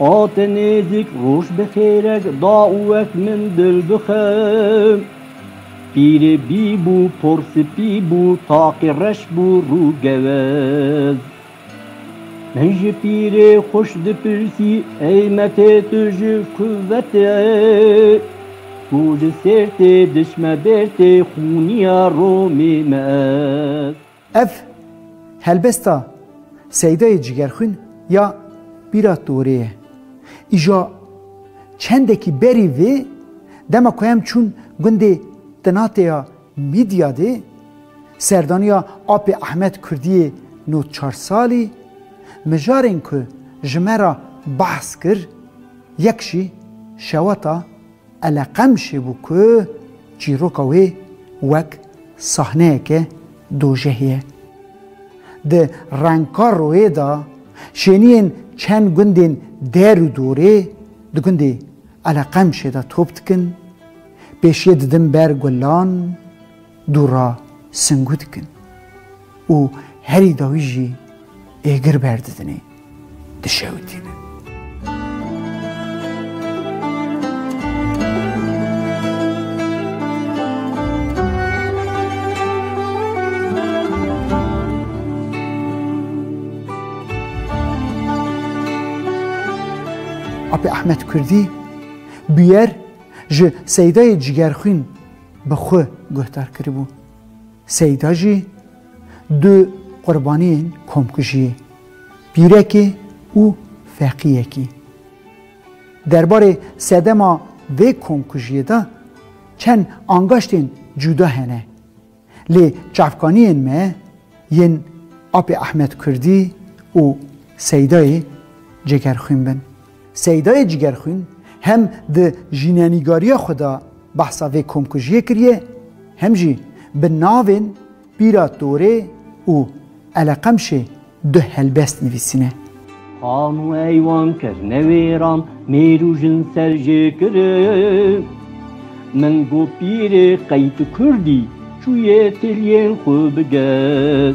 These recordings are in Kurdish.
A te nêzik roj bi xêrek da û wek min dil bixe. Pîrê bî bû, por spî bû, taqê reş bû rû gewez. Min ji pîrê xweş dipirsî, ey metê tu ji ku vete? Tu li Sêrtê diçme Bêrtê, xûniya Romê me ez. Ev helbesta Seydayê Cigerxwîn ya Bîra Torê ye. Îja çendekî berî vê, dema ku em çûn gundê Tinatê ya Mîdyadê, serdaniya apê Ehmed Kurdiyê no çar salî, mijarên ku ji me re behs kir, yek jî şewata, Eleqemşê bû ku çîroka wê wek sahneyeke dojehê ye. Di rengkar royê de şêniyên çend gundên der û dorê di gundê Eleqemşê de top dikin, pêşiyê didin ber gulan, Du ra singu dikin û herî dawî jî êgir berdidinê, dişewitînin. Apê Ahmet Kurdî bûyer ji seydayê cîgerxwîn bi xwe guhdar kiribû. Seyda jî du qurbaniyên komkujiyê, pîrekê û feqiyekî. Derbarê sedema vê komkujiyê de çend angaştên cuda hene. Lê çavkaniyên me yên Apê Ehmed Kurdî û Seydayê Cegerxwîn bin. Seydayê Cîgerxwîn hem di jînenîgariya xwe de behsa vê komkujiyê kiriye hem jî bi navên Pîra Torê û Eleqemşê du helbest nivîsîne. Xan û eywan kir newêran mêr û jin ser jê kirin. Min got pîrê qey tu kurdî çûyê têliyên xwe bigel.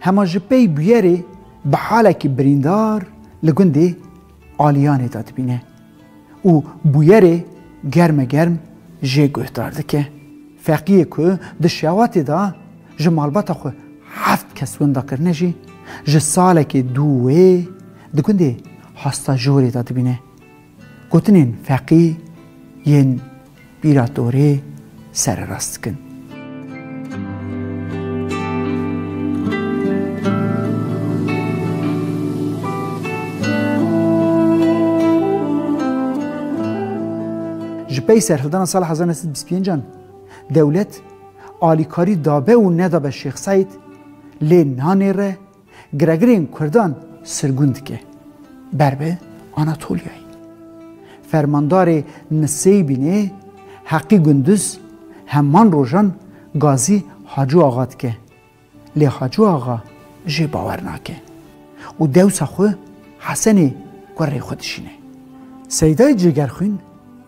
Hema ji pey bûyerê bi halekî birîndar li gundê Aliyanê de dibîne û bûyerê germe germ jê guhdar dike. Feqiyê ku di şewatê de ji malbata xwe heft kes winda kirine jî ji salekê dû wê di gundê Hastajorê de dibîne. Gotinên feqî yên bîra torê sererast dikin. Ji pey serhildana sala hezar neh sed bîst pêncan dewlet alîkarî dabe û nedabe Şêx Seîd lê nanêre Giregirên Kurdan sirgûn dike ber bi Anatolyayê. Fermandarê Niseybînê Heqî Gunduz heman rojan gazî Hacû Axa dike lê Hacû Axa jê bawer nake û dewsa xwe Hesenê ku rê xwe dişîne. Seydayê Cêgerxwîn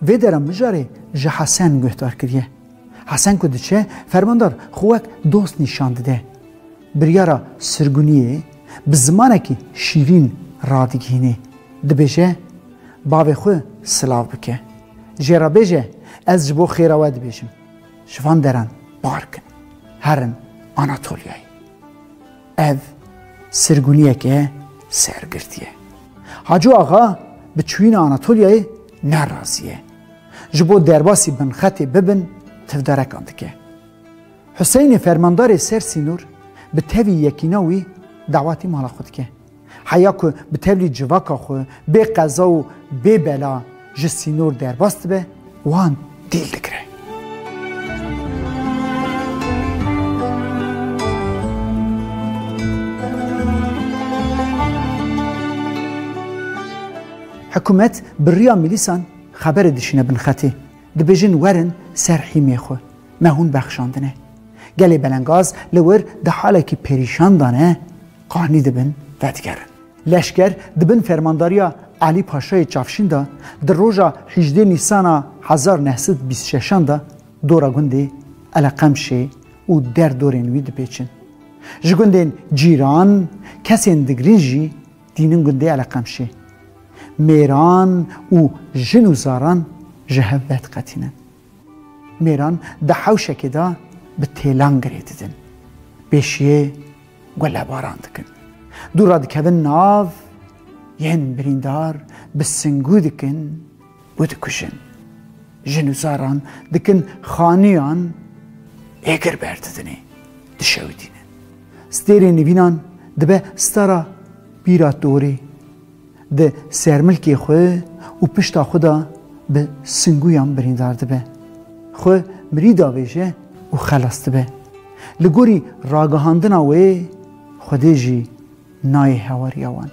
vê dera mijarê ji Hesen guhdar kiriye. Hesen ku diçe, fermandar xwe wek dost nîşan dide. Biryara sirguniyê bi zimanekî şîrîn radigihînê. Dibêje, Bavê xwe silav bike. Jê re bêje, Ez ji bo xêra we dibêjim. Ji van deran park in. Herin Anatolyayê. Ev sirguniyeke sergirtî ye. Haco axa bi çûyîna Anatolyayê ne razî ye. Ji bo derbasî binxetê bibin tivdarekan dike. Huseynê fermandarê ser sînor bi tevî yekîna wî dawatî mala xwe dike. Heya ku bi tevlî civaka xwe bê qeza û bê bela ji sînor derbas dibe wan dîl digire. Hikûmet bi riya milîsan xeberê dişîne bin xetê, dibêjin werin ser hîmê xwe, me hûn bexşandine. Gelê belengaz li wir di halekî perîşan de ne, qanî dibin vedigerin. Leşker di bin fermandariya Alî Paşayê Çavşîn de di roja hîjdê Nîsana hezar û neh sed û bîst û şeş an de dora gundê Eleqemşê û der dorên wî dipêçin. Ji gundên cîran, kesên digrin jî, Dînin gundê Eleqemşê mêran û jin û zaran ji hev vediqetînin. Mêran di hewşekê de bi têlan girê didin. Pêşiyê gulebaran dikin. Dû re dikevin nav yên birîndar bi singû dikin. û dikujin. Jin û zaran dikin xaniyan ê gir berdidinê, dişewitînin. Stêrê nivînan dibe stara bîra torê, di sermilkê xwe û pişta xwe de bi singûyan birîndar dibe. Xwe mirî davêje û xelas dibe. Li gorî ragihandina wê Xwedê jî Nayê hewariya wan.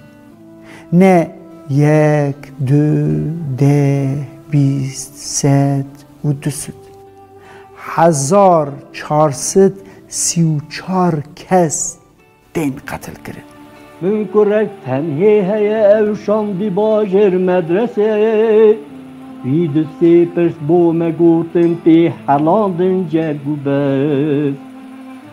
Ne yek, du, deh, bîst, sed û du sed. Hezar çar sed sî û çar kes tên qetilkirin. Min kurek tenhê heye ew şandî bajêr medresê. Vî du sê pirs bo me gotin tê helandin cerg û biz.